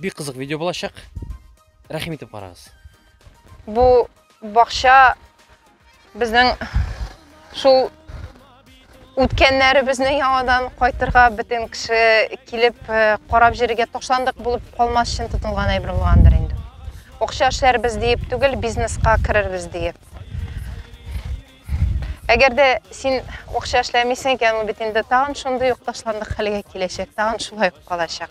Бик кызык видео булачак. Рәхим итеп карагыз. Бу бакча безнең шул үткәннәребезне яңадан кайтырга бөтен кеше килеп э, карап җиргә ташландык булып калмас өчен тотылган әйбер булгандыр инде. Акча эшләрбез диеп түгел, бизнеска керербез диеп. Әгәр дә син акча эшләмисең икән, ул бит инде тагын шундый ук ташландык хәлгә киләчәк, тагын шулай ук калачак.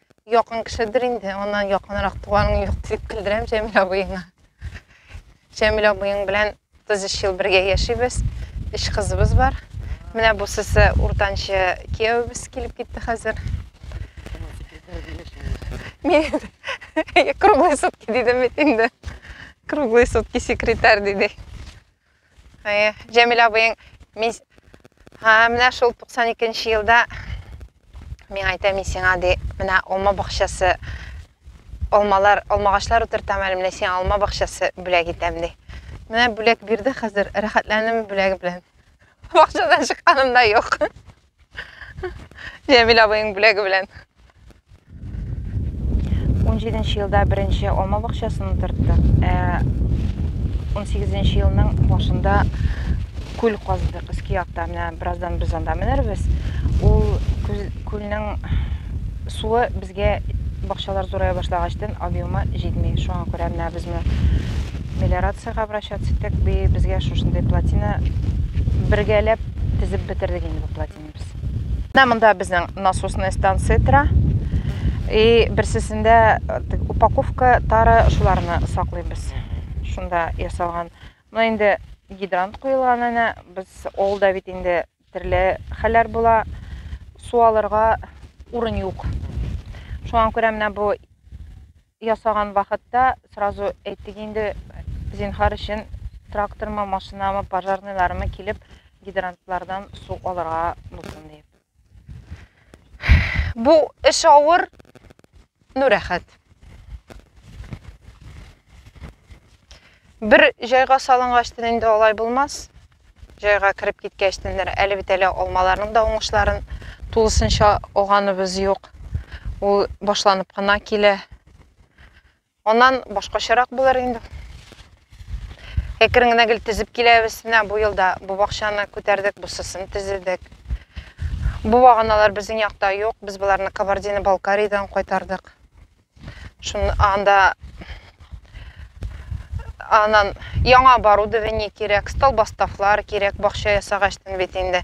якын кешедер инде, аннан якынрак туганың юк дип көлдерәм Җәмил абыеңа. Җәмил абыең белән 33 ел бергә яшибез. Өч кызыбыз бар. Менә бу сесе уртанчы кияүбез килеп китте хәзер. Мин круглые сутки дидем бит инде. Круглые сутки секретарь диде. Җәмилә абыең мин һә менә шул 92 нче елда мин әйтәм мин сиңа ди менә алма бакчасы алмалар алмагачлар утыртам әле менә сиңа алма бакчасы бүләк итәм ди менә бүләк бирде хәзер рәхәтләнем бүләге белән бакчадан чыкканым да юк Җәмил абыйның бүләге белән. 17 елда беренче алма бакчасын утыртты. 18 э, елның башында күл казыдык өске якта. Менә бераздан без анда менербез. Ул күлнең суы Безгә бакчалар зурая башлагачтын объемы җитми, шуңа күрә менә без моны мелиорациягә обращаться иттек, би безгә шушындый плотина бергәләп тезеп бетердек инде бу плотинаны без. Менә монда безнең насосная станция тора. И берсесендә э, упаковка, тары шуларны саклыйбыз. Шунда ясалган. Менә инде гидрант куелган әнә, без авылда бит инде Төрле хәлләр була, су алырга урын юк. Шуңа күрә менә бу ясаган вакытта сразу әйтик инде, зинхар өчен трактормы, машинамы, пожарныйлармы килеп гидрантлардан су алырга булсын дип. Бу эш авыр, Ну рәхәт. Бер җайга салынгаштын инде алай булмас. Җайга кереп киткәчтен әле бит әле алмаларның да уңышларын тулысынча алганыбыз юк. Ул башланып кына килә. Аннан башкачарак булыр инде. Әкрен генә гел тезеп киләбез. Менә бу елда бу бакчаны күтәрдек, бусысын тезедек. Бу баганалар безнең якта юк. Без боларны Кабардино Балкариядән кайтардык. Шуны анда анан яңа оборудование кирәк, столбастафлар кирәк, бакча ясагачтын бит инде.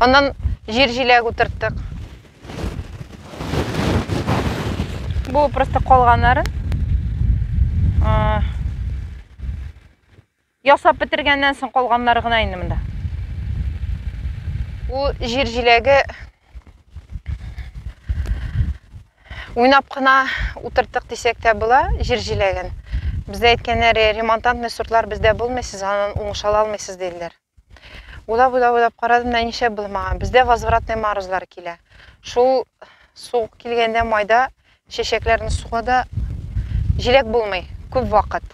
Аннан җир җиләк утырттык. Бу просто калган нарын. Ясап бетергәннән соң калганнар гына инде монда. Бу җир җиләге уйнап кына утырттык дисәк тә була, җир җиләген. Бездә әйткәннәре ремонтантный сортлар бездә булмый, сез аннан уңыш ала алмыйсыз диделәр. Уйлап, уйлап, уйлап карадым да нишләп булмаган. Бездә возвратный морозлар килә. Шул суык килгәндә майда чәчәкләрне сугада җиләк булмый күп вакыт.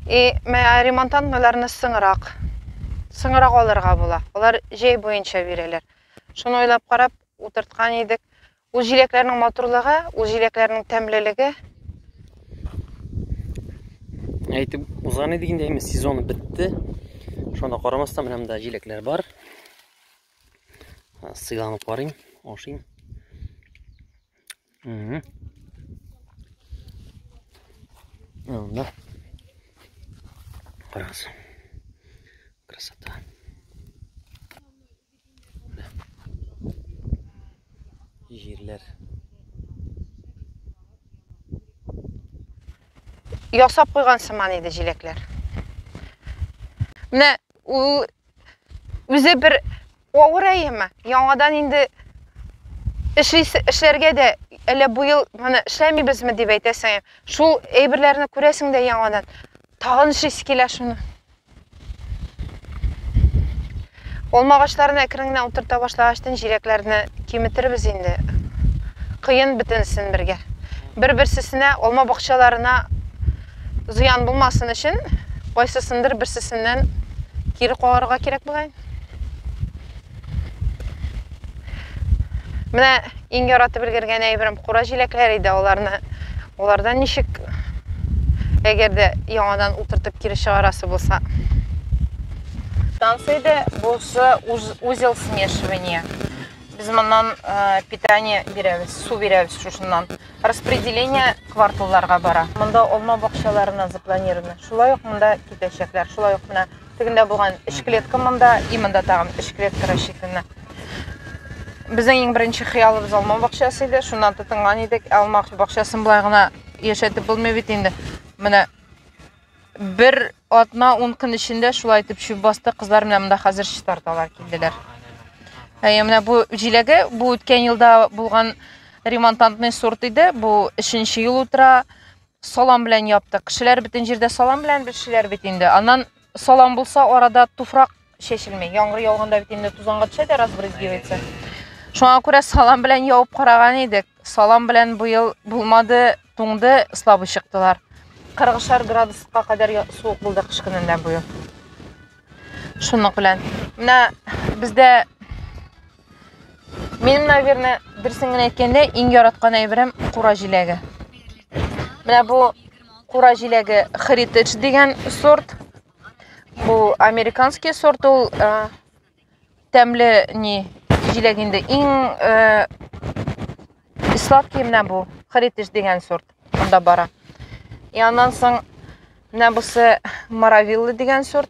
И менә ремонтантныйларны сыңрак, сыңрак алырга була. Алар җәй буенча бирәләр. Шуны уйлап карап утырткан идек. Ул җиләкләрнең матурлыгы, ул җиләкләрнең тәмлелеге. Әйтеп узган идек инде, әйме сезоны бетте. Шуңа карамастан менә монда җиләкләр бар. Сыйланып карыйм, ашыйм. Угу. Анда. Карагыз. Красота. Җирләр. Ясап куйган сыман иде җиләкләр. Менә ул үзе бер авыр әйеме. Яңадан инде эшлисе эшләргә дә әллә бу ел моны эшләмибезме дип әйтәсең. Шул әйберләрне күрәсең дә яңадан. Тагын эшлисе килә шуны. Алма агачларын әкрен генә утырта башлагачтын җиләкләрне киметербез инде. Кыен бетенсен бергә. Бер-берсесенә алма бакчаларына зыян булмасын өчен кайсысындыр берсесеннән кире кагарга кирәк бугай. Менә иң яратып өлгергән әйберем кура җиләкләре иде, аларны алардан ничек әгәр дә яңадан утыртып кире чыгарасы булса. Станция иде, булсы узел смешивания. Без моннан э, питание бирәбез, су бирәбез шушыннан. Распределение кварталларга бара. Монда алма бакчаларына запланировано. Шулай ук монда китәчәкләр. Шулай ук менә Тегендә булган өч клетка монда, и монда тагын өч клетка рассчитана. Безнең иң беренче хыялыбыз алма бакчасы иде. Шуннан тотынган идек. Алма бакчасын болай гына яшәтеп булмый бит инде. Менә бер атна ун көн эчендә шулай итеп чүп басты кызлар менә монда хәзер читарталар килделәр ә, менә бу җиләге бу үткән елда булган ремонтантный сорт иде бу өченче ел утыра Салам белән яптык. Кешеләр бөтен җирдә салам белән бешеләр бит инде. Аннан салам булса, арада туфрак чәчелми. Яңгыр яуганда бит инде тузанга төшә дә разбрызгивается. Шуңа күрә салам белән явып караган идек. Салам белән бу ел булмады, туңды, слабый чыктылар. 40 градуска кадәр суык булды кыш көнендә бу ел. Шуның белән. Менә бездә Минем, наверное, дөресен генә әйткәндә, иң яраткан әйберем кура җиләге. Менә бу кура җиләге Heritage дигән сорт. Бу американский сорт ул э, тәмле ни җиләк инде. Иң э, сладкий менә бу Heritage дигән сорт. Анда бара. И аннан соң менә бусы Маравилла дигән сорт.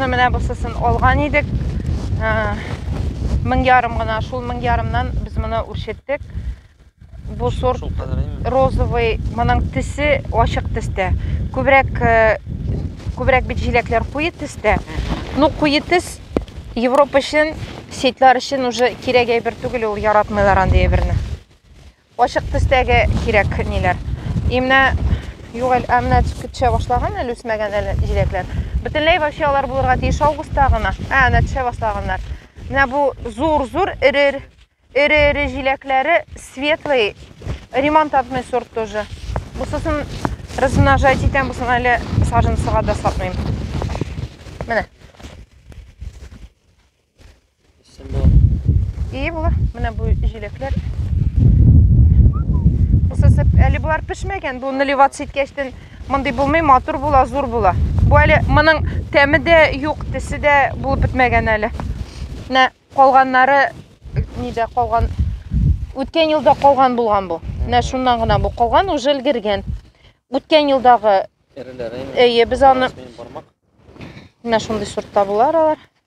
Ну, менә бусысын алган идек. Ә, мең ярым гына, шул мең ярымнан без моны үрчеттек. Бу сорт розовый, моның тесе ачык тестә. Күбрәк э, күбрәк бит җиләкләр куе тестә. Ну, куе тес Европа өчен, сетлар өчен уже кирәк әйбер түгел ул, яратмыйлар андый әйберне. Ачык төстәге кирәк ниләр. И менә юк әле, ә менә төшә башлаган әле үсмәгән әле җиләкләр. Бөтенләй вообще алар булырга тиеш августта гына. Ә, менә төшә башлаганнар. Менә бу зур-зур эре эре җиләкләре светлый ремонтантный сорт тоже. Бусысын размножать итәм, бусын әле саженцыга да сатмыйм. Менә. И була. Менә бу җиләкләр. Усысып, әле болар пешмәгән. Бу наливат ситкәчтен мондый булмый, матур була, зур була. Бу әле моның тәме дә юк, тесе дә булып бетмәгән әле. Менә калганнары нидә калган? Үткән елда калган булган бу. Менә шуннан гына бу калган, уже өлгергән. Үткән елдагы Эреләре. Әйе, без аны Менә шундый сортта булар алар.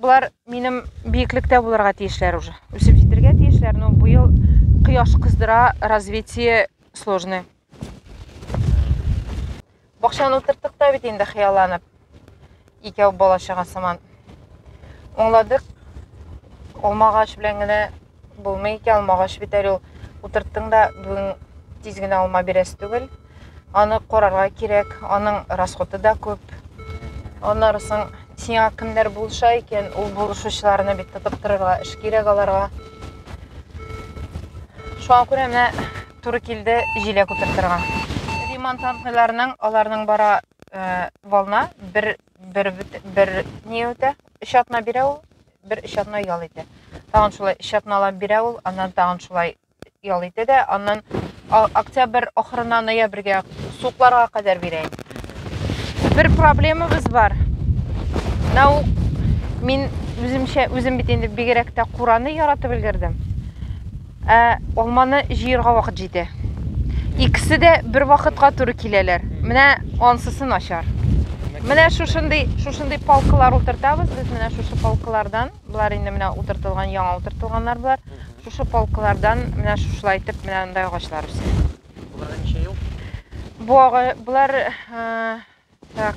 Болар минем биеклектә булырга тиешләр уже. Үсеп җитергә тиешләр, но быел кояш кыздыра, развитие сложный. Бакчаны утырттык та бит инде хыялланып. Икәү бала чага сыман. Оңладык. Алмагач белән генә Булмый икән, алмагач бит әле ул. Утырттың да, бүген тиз генә алма бирәсе түгел. Аны карарга кирәк, аның расходы да күп. Аннары соң сиңа кемнәр булыша икән, ул булышучыларны бит тотып торырга эш кирәк аларга. Шуңа күрә менә туры килде җиләк утыртырга. Ремонт антыйларның аларның бара э, волна бер бер бер не үтә. Өч атна бирә ул бер өч атна ял итә. Тагын шулай өч атналап бирә ул, аннан тагын шулай ял итә дә, аннан октябрь ахырына ноябрьгә сукларга кадәр бирә. Бер проблемабыз бар. Нау мин үземчә үзем бит инде бигрәк тә кураны яратып өлгердем. Ә алманы җыерга вакыт җитә. Икесе дә бер вакытка туры киләләр. Менә ансысы начар. Менә шушындый, шушындый палкалар утыртабыз без. Менә шушы палкалардан, болар инде менә утыртылган, яңа утыртылганнар болар. Шушы палкалардан менә шушылай итеп менә андай агачлар үсә. Буларга ничә ел? Бу ага, булар, э, так,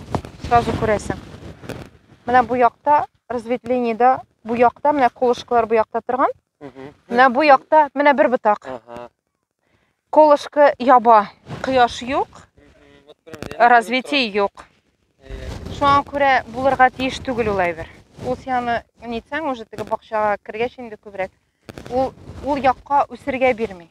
сразу күрәсең. Менә бу якта разветвлениедә бу якта менә колышкалар бу якта торган. Менә бу якта менә бер ботак. Колышкы яба, кояш юк, развитие юк. Шуңа күрә булырга тиеш түгел ул әйбер. Ул сианы нитсәң уже теге бакчага кергәч инде күбрәк Ул ул якка үсергә бирми.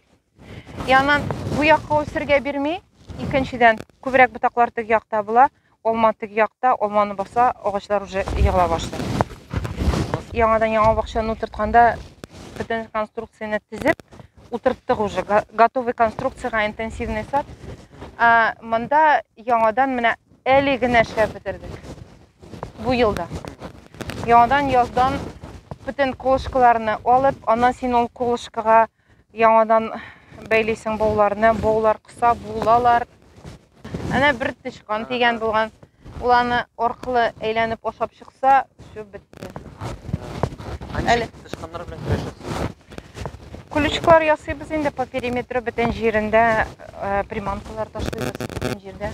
И анан бу якка үсергә бирми. Икенчедән, күбрәк ботаклар теге якта була, алма теге якта, алманы баса, агачлар уже егыла башлый. Яңадан яңа бакчаны утыртканда бөтен конструкцияне тизеп, утырттык уже готовый конструкцияга интенсивный сад. А монда яңадан менә Әле генә эшләп бетердек. Бу елда. Яңадан яздан бөтен колышкаларны алып, аннан син ул колышкага яңадан бәйлисең бауларны, баулар кыса булалар. Әнә бер тычкан тигән булган. Ул аны аркылы әйләнеп ашап чыкса, все бетте. Әле тычканнар белән көрәшәсез. Күлүчкләр ясыйбыз инде по периметру бөтен җирендә э, приманкалар ташлыйбыз бөтен җирдә.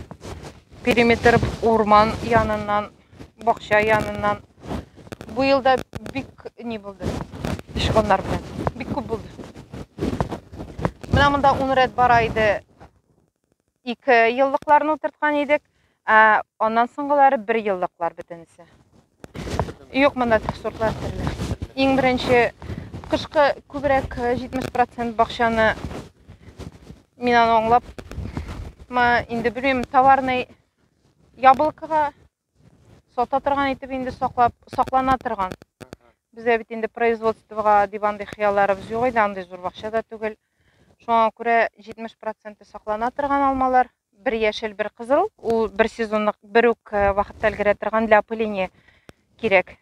Периметр урман яныннан, бакча яныннан. Бу елда бик ни булды. Тычканнар белән. Бик күп булды. Менә монда 10 рәт бара иде. ике еллыкларны утырткан идек. Ә аннан соңгылары бер еллыклар бөтенесе. Юк, монда сортлар төрле. Иң беренче кышкы күбрәк 70% бакчаны мин аны аңлап ма инде белмим, товарный яблокага сата торган итеп инде саклап саклана торган бездә бит инде производствога дип андый хыялларыбыз юк иде андый зур бакча да түгел шуңа күрә 70 проценты саклана торган алмалар бер яшел бер кызыл ул бер сезонлык бер үк э, вакытта өлгерә торган для опыления кирәк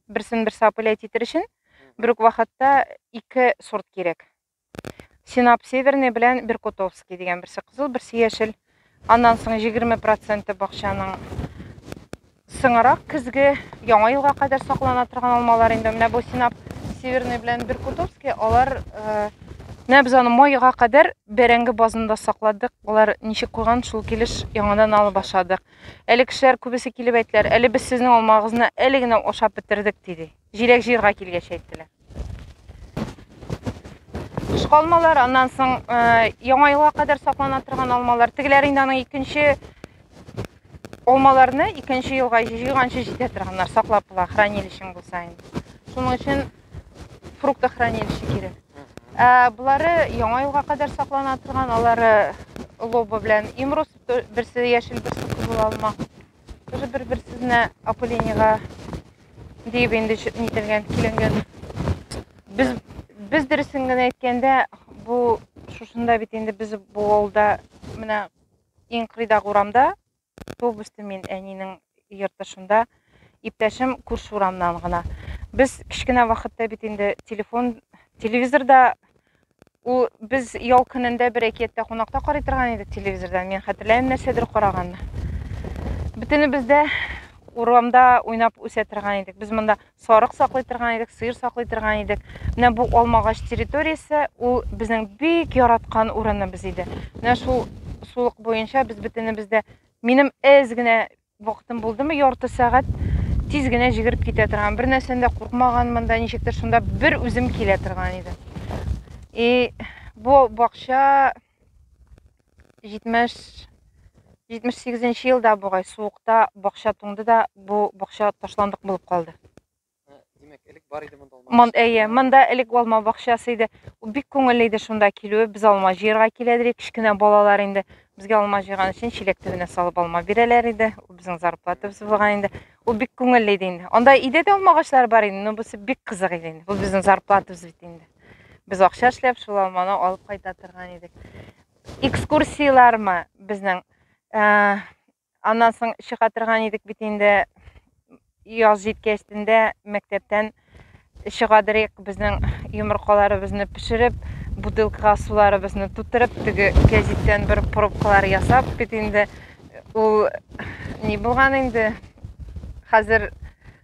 берсен берсе опылять итер өчен бер үк вакытта ике сорт кирәк Синап Северный белән Беркутовский дигән берсе кызыл, берсе яшел. Аннан соң 20% бакчаның сыңарак көзге яңа елга кадәр саклана торган алмалар инде. Менә бу Синап Северный белән Беркутовский, алар э, менә без аны майга кадәр бәрәңге базында сакладык. Алар ничек куйган, шул килеш яңадан алып ашадык. Әле кешеләр күбесе килеп әйтләр, әле без сезнең алмагызны әле генә ашап бетердек, диде. Җиләк җыерга килгәч әйттеләр. Кышкы алмалар, аннан соң э, яңа елга кадәр саклана торган алмалар. Тегеләр инде аның икенче алмаларны икенче елга җыйганчы җитә торганнар, саклап була, хранилищең булса инде. Шуның өчен фрукта хранилище кирәк. Ә болары яңа елга кадәр саклана торган, алары лоба белән имрус, берсе яшел, берсе кызыл алма. Тоже бер-бер сезне опылениега диеп инде нителгән, киленгән. Без без дөресен генә әйткәндә, бу шушында бит инде без бу авылда менә иң кырыйдагы урамда туып үстем мин әнинең йорты шунда. Иптәшем күрше урамнан гына. Без кечкенә вакытта бит инде телефон, телевизорда Ул без ял көнендә бер әкияттә кунакта карый торган идек телевизордан. Мин хәтерләмим нәрсәдер караганны. Бөтенебез дә урамда уйнап үсә торган идек. Без монда сарык саклый торган идек, сыер саклый торган идек. Менә бу алмагач территориясе, ул безнең бик яраткан урыныбыз иде. Менә шул сулык буенча без бөтенебез дә минем әз генә Вакытым булдымы, ярты сәгать тиз генә җигереп китә торган. Бер нәрсәдән дә куркмаганмын да, ничектер шунда бер үзем килә торган идем. И бу бакча 70 78 елда бугай суыкта бакча туңды да бу бакча ташландык булып калды. Мон, әйе, монда элек алма бакчасы иде. Бик күңелле иде шунда килүе. Без алма җыярга килә идек. Кечкенә балалар инде безгә алма җыйган өчен чиләк төбенә салып алма бирәләр иде. Ул безнең зарплатабыз булган инде. Ул бик күңелле иде инде. Анда өйдә дә алма агачлары бар инде, но бусы бик кызык иде инде. Бу безнең зарплатабыз бит инде. Без акча эшләп шул алманы алып кайта торган идек. Экскурсияләрме безнең? Э, Аннан соң чыга торган идек бит инде. Яз җиткәч тендә мәктәптән чыга дирек безнең йомыркаларыбызны пешереп, бутылкага суларыбызны тутырып, теге кәҗиттән бер пробкалар ясап бит инде. Ул ни булган инде? Хәзер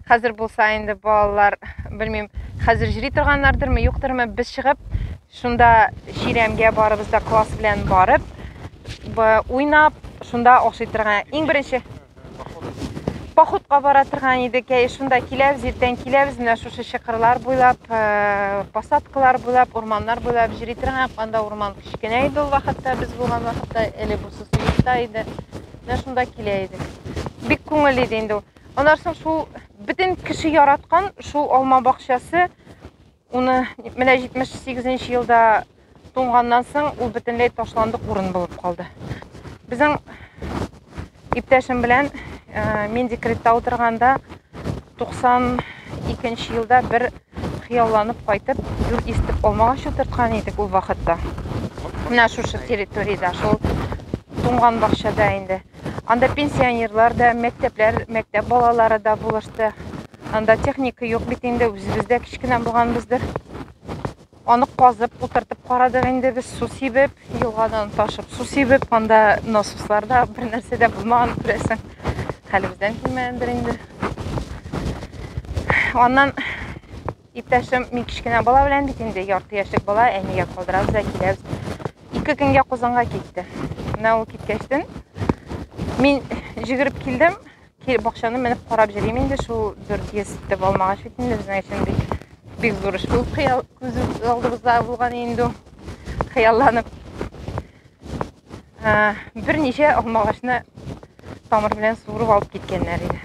хәзер булса инде балалар, белмим, хәзер җри торганнардырмы, юктырмы, без чыгып Шунда чирәмгә барыбыз да класс белән барып, уйнап, шунда ашый торган. Иң беренче походка бара торган идек. Әй, шунда киләбез, иртән киләбез, менә шушы чыкырлар буйлап, э, посадкалар буйлап, урманнар буйлап йөри торган. Анда урман кечкенә иде ул вакытта, без булган вакытта, әле бу сусыйта иде. Менә шунда килә идек. Бик күңелле иде инде ул. Аннан соң шул бөтен кеше яраткан шул алма бакчасы Уны менә 78 нче елда туңганнан соң ул бөтенләй ташландык урын булып калды. Безнең иптәшем белән э, мин декретта утырганда 92 елда бер хыялланып кайтып, гүр истеп алмагач утырткан идек ул вакытта. Менә шушы территориядә, шул туңган бакчада инде. Анда пенсионерлар да, мәктәпләр, мәктәп балалары да булышты. Анда техника юк бит инде, үзебез дә кечкенә булганбыздыр. Аны казып, утыртып карадык инде без су сибеп, елгадан ташып су сибеп, анда насосларда бер нәрсә дә булмаган күрәсең. Хәлебездән килмәгәндер инде. Аннан иптәшем мин кечкенә бала белән бит инде ярты яшьлек бала әнигә калдырабыз да киләбез. Ике көнгә Казанга китте. Менә ул киткәчтен мин җигереп килдем, Килеп бакчаны менеп карап йөрим инде шул дүрт йөз итеп алмагач бит инде безнең өчен бик бик зур эш булып хыял күз алдыбызда булган инде хыялланып ә, берничә алмагачны тамыр белән суырып алып киткәннәр иде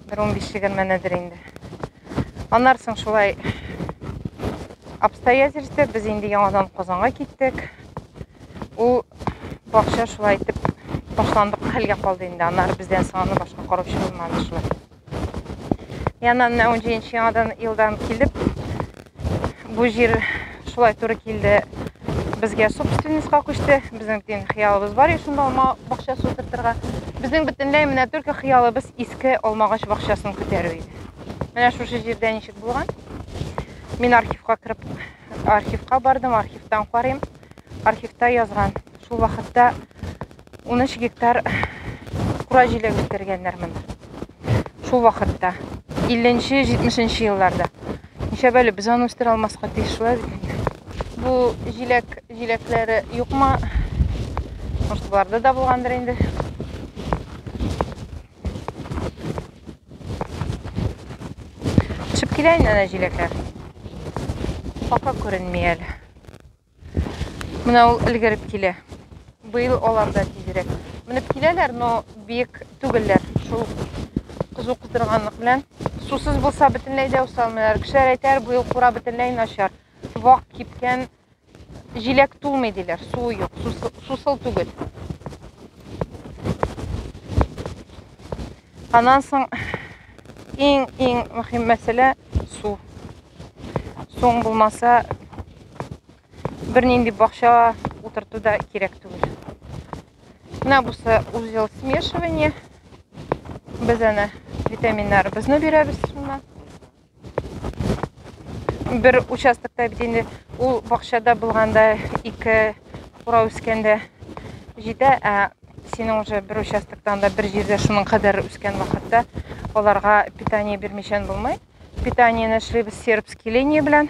бер он биш егерменедер инде аннары соң шулай обстоятельство без инде яңадан казанга киттек Ул бакча шулай итеп ташландык хәлгә калды инде. Аннары бездән соң аны башка караучы булмады шулай. Яннан менә 17 яңадан елдан килеп, бу җир шулай туры килде. Безгә собственностька күчте. Безнең дин хыялыбыз бар иде шунда алма бакча сутыртырга. Безнең бөтенләй менә только хыялыбыз иске алмагач бакчасын күтәрү иде. Менә шушы җирдә ничек булган. Мин архивка кереп архивка бардым, архивтан карыйм. Архивта язган. Шул вакытта 13 гектар кура җиләк үстергәннәр монда. Шул вакытта 50-70 елларда. Ничә бәле без аны үстерә алмаска тиеш шулай бит. Бу җиләк җиләкләре юкмы? Может, булгандыр инде. Төшеп килә инде әнә җиләкләр. Пока күренми әле. Менә ул өлгереп килә. Быел алар да тизрәк. Менеп киләләр, но биек түгелләр. Шул кызу кыздырганлык белән. Сусыз булса бөтенләй дә усалмыйлар. Кешеләр әйтәр, быел кура бөтенләй начар. Вак кипкән, җиләк тулмый диләр, суы юк, сусыл түгел. Аннан соң иң иң мөһим мәсьәлә су. Суң булмаса бернинди бакча утырту да кирәк түгел. Менә бусы узел смешивание. Без аны витаминнарыбызны бирәбез шуннан. бер участокта бит инде ул бакчада булганда ике кура үскәндә җитә, ә синең уже бер участоктан да бер җирдә шуның кадәр үскән вакытта аларга питание бирмичән булмый. Питаниене эшлибез сербский линия белән.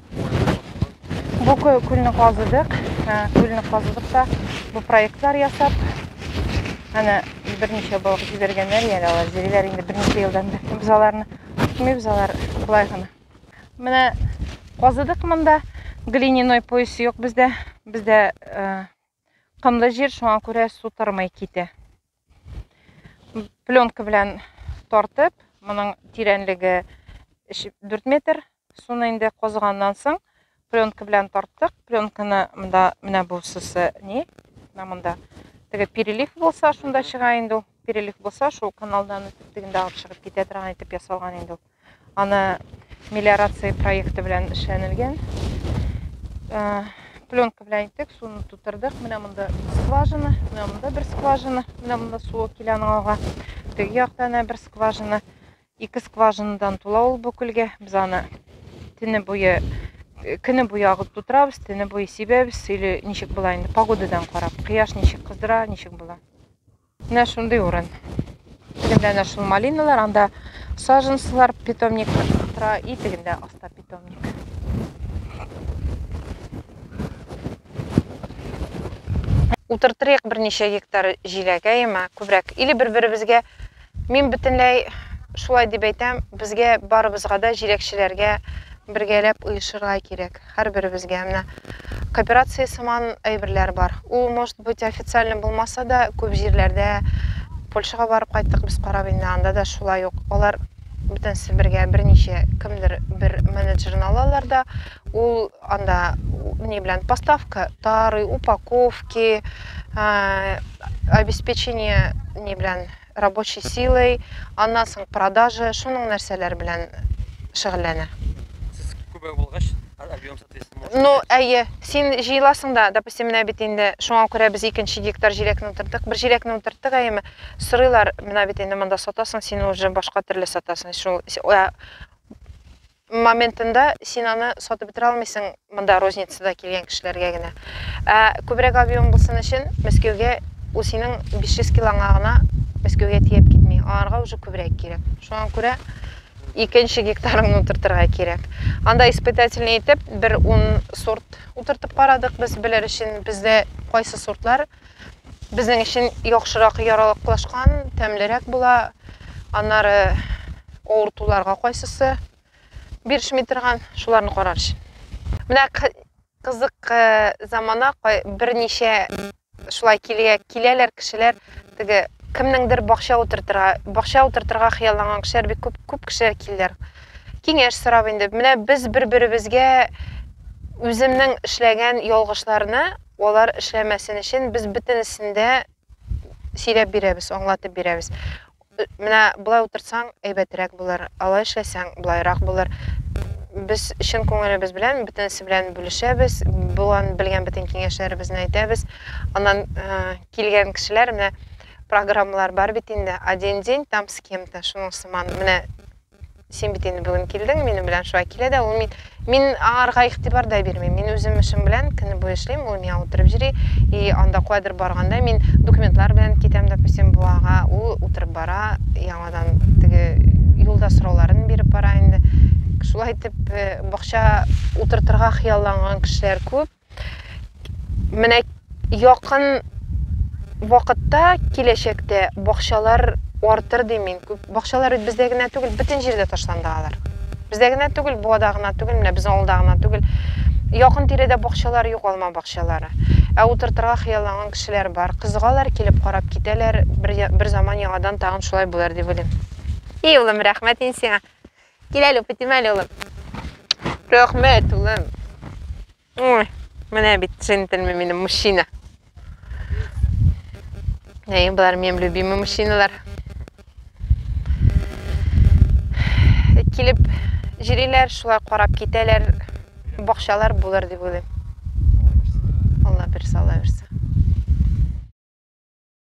Бу күлне казыдык, күлне казыдык та бу проектлар ясап, әнә берничә балык җибәргәннәр, яли алар җириләр инде берничә елдан бер. Без аларны тотмыйбыз, алар болай гына. Менә казыдык монда, глиняной пояс юк бездә. Бездә Кымлы җир, шуңа күрә су тормый китә. Пленка белән тартып, моның тирәнлеге 4 метр. Суны инде козганнан соң пленка белән тарттык. Пленканы монда менә бу сусы не, менә монда. Теге перелив булса, шунда чыга инде ул. перелив булса, шул каналдан үтеп дигәндә алып чыгып китә торган итеп ясалган инде ул. Аны мелиорация проекты белән эшләнелгән. Э, пленка белән иттек, суны тутырдык. Менә монда скважина, менә монда бер скважина, менә монда су килә аның алга. Теге яктан бер скважина. Ике скважинадан тула ул бу күлгә. Без аны төне буе э, көне буе агып тутырабыз, төне буе сибәбез. Или ничек була инде погодадан карап, кояш ничек кыздыра, ничек була. Менә шундый урын. Тегендә нә шул малиналар, анда саженцлар, питомник тора, и тегендә аста питомник. Утыртырыйк берничә гектар җиләк, әйеме, күбрәк. Или бер-беребезгә Мин бөтенләй шулай дип әйтәм, безгә барыбызга да җиләкчеләргә бергәләп оешырга кирәк, һәрберебезгә. Менә кооперация сыман әйберләр бар. Ул, может быть, официально булмаса да, күп җирләрдә Польшага барып кайттык без карап инде, анда да шулай ук. Алар бөтенесе бергә берничә кемдер бер менеджерны алалар да, ул анда ни белән поставка, тары, упаковки, обеспечение ни белән рабочей силой, аннан соң продажа, шуның нәрсәләр белән шөгыльләнә. Сез күбәк булгач, объем соответственно. Ну, әйе, син җыеласың да, допустим, менә бит инде шуңа күрә без икенче гектар җиләкне утырдык. Бер җиләкне утырдык, әйеме? Сорыйлар, менә бит инде монда сатасың, син уже башка төрле сатасың. Шул Моментында син аны сатып бетерә алмыйсың монда розницада килгән кешеләргә генә. Ә күбрәк объем булсын өчен Мәскәүгә ул синең 500 килоңа гына Мәскәүгә тиеп китми. Аларга уже күбрәк кирәк. Шуңа күрә икенче гектарыңны утыртырга кирәк. Анда испытательный итеп бер ун сорт утыртып карадык без, белер өчен бездә кайсы сортлар безнең өчен яхшырак яралыклашкан, тәмлерәк була. Аннары авыртуларга кайсысы бирешми торган, шуларны карар өчен. Менә кызык э, замана берничә шулай килә, киләләр кешеләр теге кемнеңдер бакча утыртырга бакча утыртырга хыялланган кешеләр бик күп күп кешеләр килделәр киңәш сорап инде менә без бер беребезгә үземнең эшләгән ялгышларны Алар эшләмәсен өчен без бөтенесен дә сөйләп бирәбез, аңлатып бирәбез. Менә болай утыртсаң, әйбәтрәк булыр, алай эшләсәң, болайрак булыр. Без чын күңелебез белән бөтенесе белән бүлешәбез, булган белгән бөтен киңәшләребезне әйтәбез. Аннан килгән кешеләр менә программалар бар бит инде, один день там с кем-то, шуның сыман. Менә Син бит инде бүген килдең, минем белән шулай килә дә ул мин. Мин аңарга игътибар да бирмим. Мин үзем эшем белән көне буе эшлим, ул миңа утырып йөри. И анда куәдер барганда мин документлар белән китәм, допустим, буага, ул утырып бара, яңадан теге юлда сорауларын биреп бара инде. Шулай итеп, э, бакча утыртырга хыялланган кешеләр күп. Менә якын вакытта, киләчәктә бакчалар артыр дим мин. Бакчалар бит бездә генә түгел, бөтен җирдә ташланды алар. Бездә генә түгел, Буада гына түгел, менә безнең авылда гына түгел. Якын тирәдә бакчалар юк, алма бакчалары. Ә утыртырга хыялланган кешеләр бар. Кызыгалар, килеп карап китәләр. Бер, бер заман яңадан тагын шулай булыр дип уйлыйм. И улым, рәхмәт ин сиңа. Кил әле, үпетим әле, улым. Рәхмәт, улым. Ой, менә бит джентльмен минем мужчина. Әй, болар минем любимый мужчиналар. Килеп җириләр, шулай карап китәләр. Бакчалар булыр дип уйлыйм. Алла бирса, Алла бирса.